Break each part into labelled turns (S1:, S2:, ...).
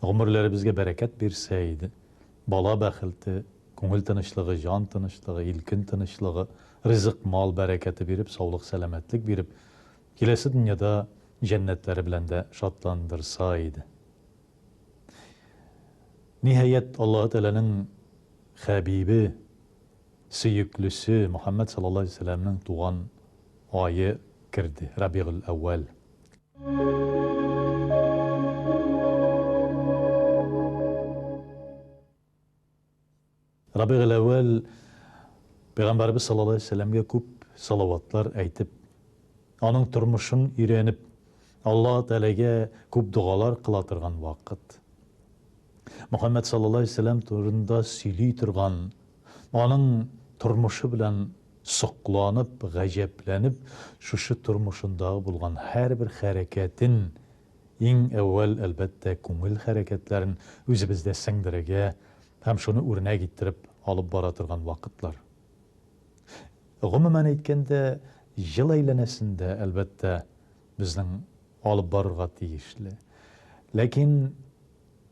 S1: Гомерләребезгә бәрәкәт бирсә иде. Бала бәхелте, күңел тынычлыгы, җан тынычлыгы, илкен тынычлыгы, ризык-мал бәрәкәте биреп, саулык-сәламәтлек биреп, киләсе дөньяда җәннәтләре белән дә шатландырса иде. Ниһаять, Аллаһы Тәгаләнең хәбибе, сөеклесе Мөхәммәд саллаллаһу галәйһи ва сәлләмнең туган ае керде, Рабигъ-әл-әүвәл. Рабигель әүвәл Пәйгамбәрбез саллаллаһу алейһи ва сәлләмгә күп салаватлар әйтеп, аның тормышын өйрәнеп, Алла Тәгаләгә күп догалар кыла торган вакыт. Мөхәммәд саллаллаһу алейһи ва сәлләм турында сөйли торган, аның тормышы белән Сокланып, гаҗәпләнеп, шушы тормышындагы булган һәрбер хәрәкәтен, иң әүвәл, әлбәттә, күңел хәрәкәтләрен үзебездә сеңдерергә һәм шуны үрнәк иттереп алып бара торган вакытлар. Гомумән әйткәндә, ел әйләнәсендә, әлбәттә, безнең алып барырга тиешле. Ләкин.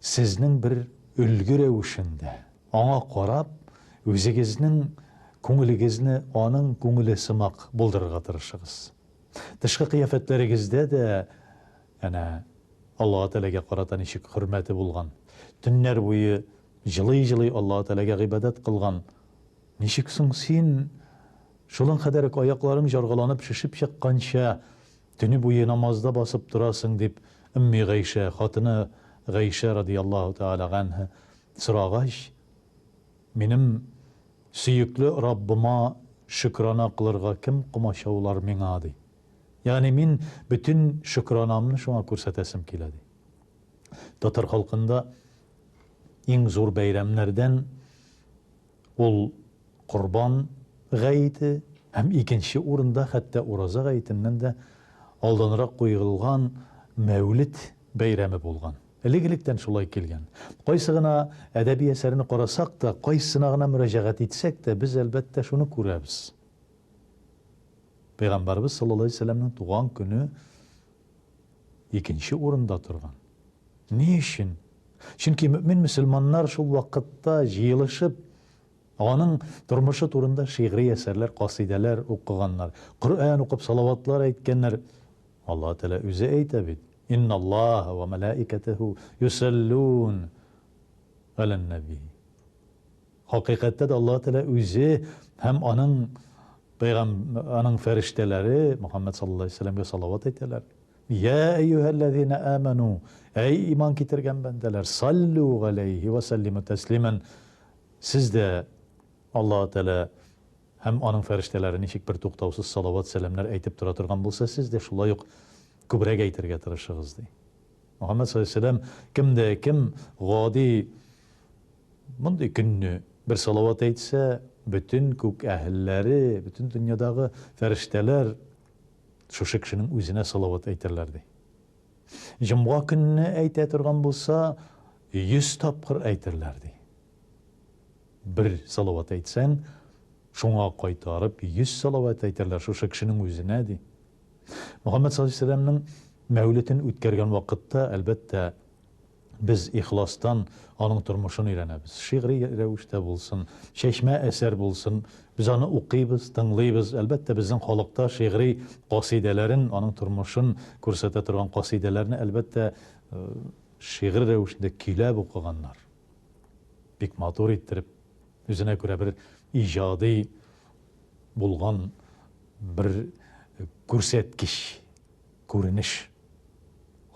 S1: Сезнең бер өлге рәвешендә, аңа карап, үзегезнең күңелегезне аның күңеле сымак булдырырга тырышыгыз. Тышкы кыяфәтләрегездә дә әнә Аллаһы Тәгаләгә карата ничек хөрмәте булган, төннәр буе җылый-җылый Аллаһы Тәгаләгә гыйбадәт кылган, ничек соң син, шулың кадәр үк аякларың җаргаланып шешеп чыкканча, Төне буе намазда басып торасың, дип, Өмми Гайшә, хатыны Гайшә радияллаһу тәгалә ганһа, сорагач, Минем сөекле Раббыма шөкерана кылырга кем комачаулар миңа, ди. Ягъни мин бөтен шөкеранамны шуңа күрсәтәсем килә, ди. Татар халкында иң зур бәйрәмнәрдән, Ул Корбан гаете һәм икенче урында хәтта Ураза гаетеннән дә алданрак куерылган Мәүлет бәйрәме булган. Элек-электән шулай килгән. Кайсы гына әдәби әсәрне карасак та, кайсына гына мөрәҗәгать итсәк тә, без, әлбәттә, шуны күрәбез, Пәйгамбәребез саллаллаһу галәйһи ва сәлләмнең туган көне Икенче урында торган. Ни өчен? Чөнки мөэмин мөселманнар шул вакытта җыелышып, аның тормышы турында шигъри әсәрләр, касыйдәләр укыганнар, Коръән укып, салаватлар әйткәннәр. Аллаһы Тәгалә үзе әйтә бит, Инналлаһа ва мәләикәтәһү юсәллүн галәннәби. Хакыйкатьтә дә Аллаһ Тәгалә үзе һәм аның пәйгам аның фәрештәләре Мөхәммәд саллаллаһу алейһи ва сәлләмгә салават әйтәләр. Йә әйюһәлләзина әмәну, әй иман китергән бәндәләр, саллу галәйһи ва сәллиму тәслимән, сез дә Аллаһ Тәгалә һәм аның фәрештәләре ничек бертуктаусыз салават-сәламнәр әйтеп тора торган булса, сез дә шулай ук күбрәк әйтергә тырышыгыз, ди. Мөхәммәд саллаллаһу алейһи ва сәлләм кем дә кем гади Мондый көнне бер салават әйтсә, бөтен күк әһелләре, бөтен дөньядагы фәрештәләр шушы кешенең үзенә салават әйтерләр, ди. Җомга көнне әйтә торган булса, йөз тапкыр әйтерләр, ди. Бер салават әйтсәң, шуңа кайтарып йөз салават әйтерләр шушы кешенең үзенә, ди. Мөхәммәд саллаллаһу алейһи ва сәлләмнең мәүлетен үткәргән вакытта, әлбәттә, Без ихластан аның тормышын өйрәнәбез. Шигъри рәвештә булсын, чәчмә әсәр булсын, без аны укыйбыз, тыңлыйбыз. Әлбәттә, безнең халыкта шигъри касыйдәләрен, аның тормышын күрсәтә торган касыйдәләрне, әлбәттә, шигырь рәвешендә көйләп укыганнар. Бик матур иттереп, үзенә күрә бер иҗади булган бер күрсәткеч. Күренеш.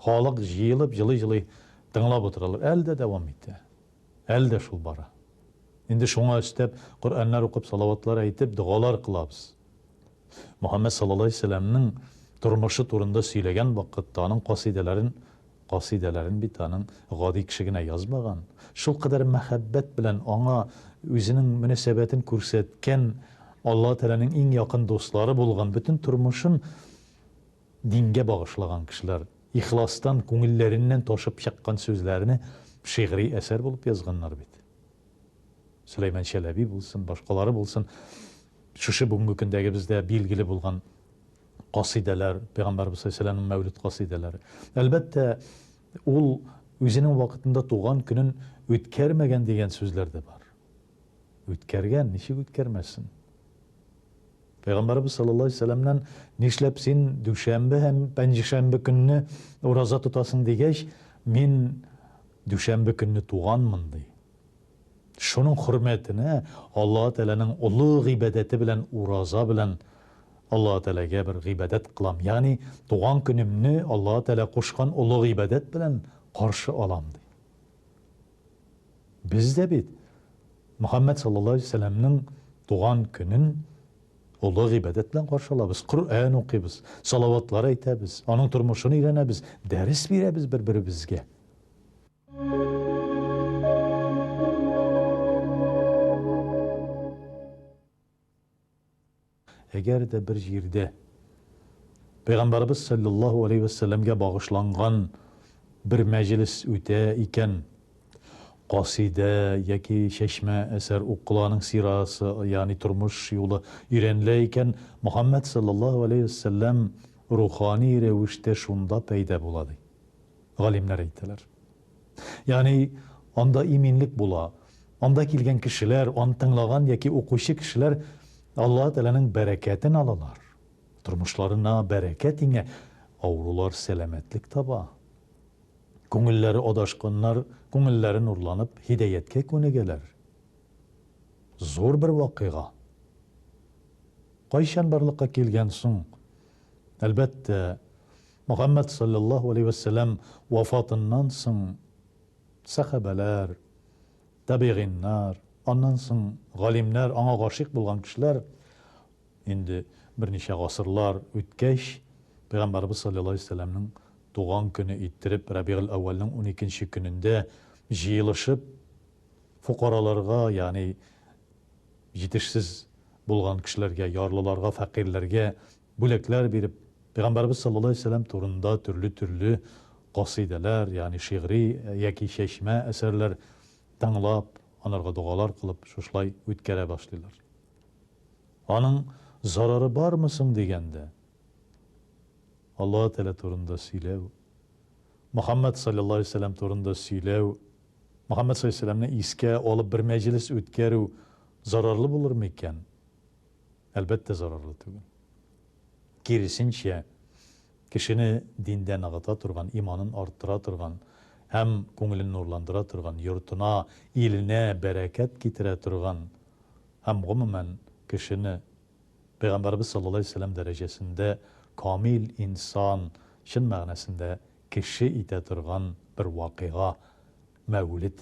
S1: Халык җыелып җылый-җылый тыңлап утыралар. Әле дә дәвам итә. Әле дә шул бара. Инде шуңа өстәп, Коръәннәр укып, салаватлар әйтеп, догалар кылабыз. Мөхәммәд саллаллаһу галәйһи ва сәлләмнең тормышы турында сөйләгән вакытта, аның касыйдәләрен, касыйдәләрен бит аның гади кеше генә язмаган, шулкадәр мәхәббәт белән аңа үзенең мөнәсәбәтен күрсәткән, Аллаһы Тәгаләнең иң якын дуслары булган, бөтен тормышын Дингә багышлаган кешеләр ихластан, күңелләреннән ташып чыккан сүзләрне шигъри әсәр булып язганнар бит. Сөләйман Чәләби булсын, башкалары булсын, шушы бүгенге көндәгебездә билгеле булган касыйдәләр, Пәйгамбәрбез саллаллаһу алейһи ва сәлләмнең мәүлид касыйдәләре. Әлбәттә, ул үзенең вакытында туган көнен үткәрмәгән дигән сүзләр дә бар. Үткәргән, ничек үткәрмәсен? Пәйгамбәребез саллаллаһу алейһи ва сәлләмнән, Нишләп син дүшәмбе һәм пәнҗешәмбе көнне ураза тотасың? дигәч, Мин дүшәмбе көнне туганмын, ди. Шуның хөрмәтенә Аллаһы Тәгаләнең олы гыйбадәте белән ураза белән Аллаһы Тәгаләгә бер гыйбадәт кылам, ягъни туган көнемне Аллаһы Тәгалә кушкан олы гыйбадәт белән каршы алам, ди. Без дә бит Мөхәммәд саллаллаһу алейһи ва сәлләмнең туган көнен олы гыйбадәт белән каршы алабыз, Коръән укыйбыз, салаватлар әйтәбез, аның тормышын өйрәнәбез, дәрес бирәбез бер-беребезгә. Әгәр дә бер җирдә Пәйгамбәребез салләллаһу галәйһи вә сәлләмгә багышланган бер мәҗлес үтә икән, касыйдә яки чәчмә әсәр укыла, аның сирасы, ягъни тормыш юлы өйрәнелә икән, Мөхәммәд салләллаһу галәйһи вә сәлләм рухани рәвештә шунда пәйда була, ди галимнәр әйтәләр. Ягъни, анда иминлек була. Анда килгән кешеләр, аны тыңлаган яки укучы кешеләр Аллаһы Тәгаләнең бәрәкәтен алалар. Тормышларына бәрәкәт иңә, авырулар сәламәтлек таба. Күңелләре адашканнар күңелләре нурланып, һидәяткә күнегәләр. Зур бер вакыйга. Кайчан барлыкка килгән соң? Әлбәттә, Мөхәммәд салләллаһу галәйһи вә сәлләм вафатыннан соң сәхабәләр, табигыйннар, аннан соң галимнәр, аңа гашыйк булган кешеләр инде берничә гасырлар үткәч, Пәйгамбәребез салләллаһу галәйһи вә сәлләмнең туган көне иттереп Рәбигель-әүвәлнең уникенче көнендә җыелышып, фокараларга, ягъни җитешсез булган кешеләргә, ярлыларга, фәкыйрьләргә бүләкләр биреп, Пәйгамбәребез саллаллаһу алейһи ва сәлләм турында төрле-төрле касыйдәләр, ягъни шигъри яки чәчмә әсәрләр тыңлап, анарга догалар кылып, шушылай үткәрә башлыйлар. Аның зарары бармы соң дигәндә, Аллаһы Тәгалә турында сөйләү, Мөхәммәд саллаллаһу алейһи ва сәлләм турында сөйләү, Мөхәммәд саллаллаһу алейһи ва сәлләмне искә алып бер мәҗлес үткәрү зарарлы булырмы икән? Әлбәттә, зарарлы түгел. Киресенчә, кешене диндә ныгыта торган, иманын арттыра торган һәм күңелен нурландыра торган, йортына, иленә бәрәкәт китерә торган һәм, гомумән, кешене Пәйгамбәребез саллаллаһу галәйһи ва сәлләм дәрәҗәсендә камил инсан, чын мәгънәсендә кеше итә торган бер вакыйга, мәүлид.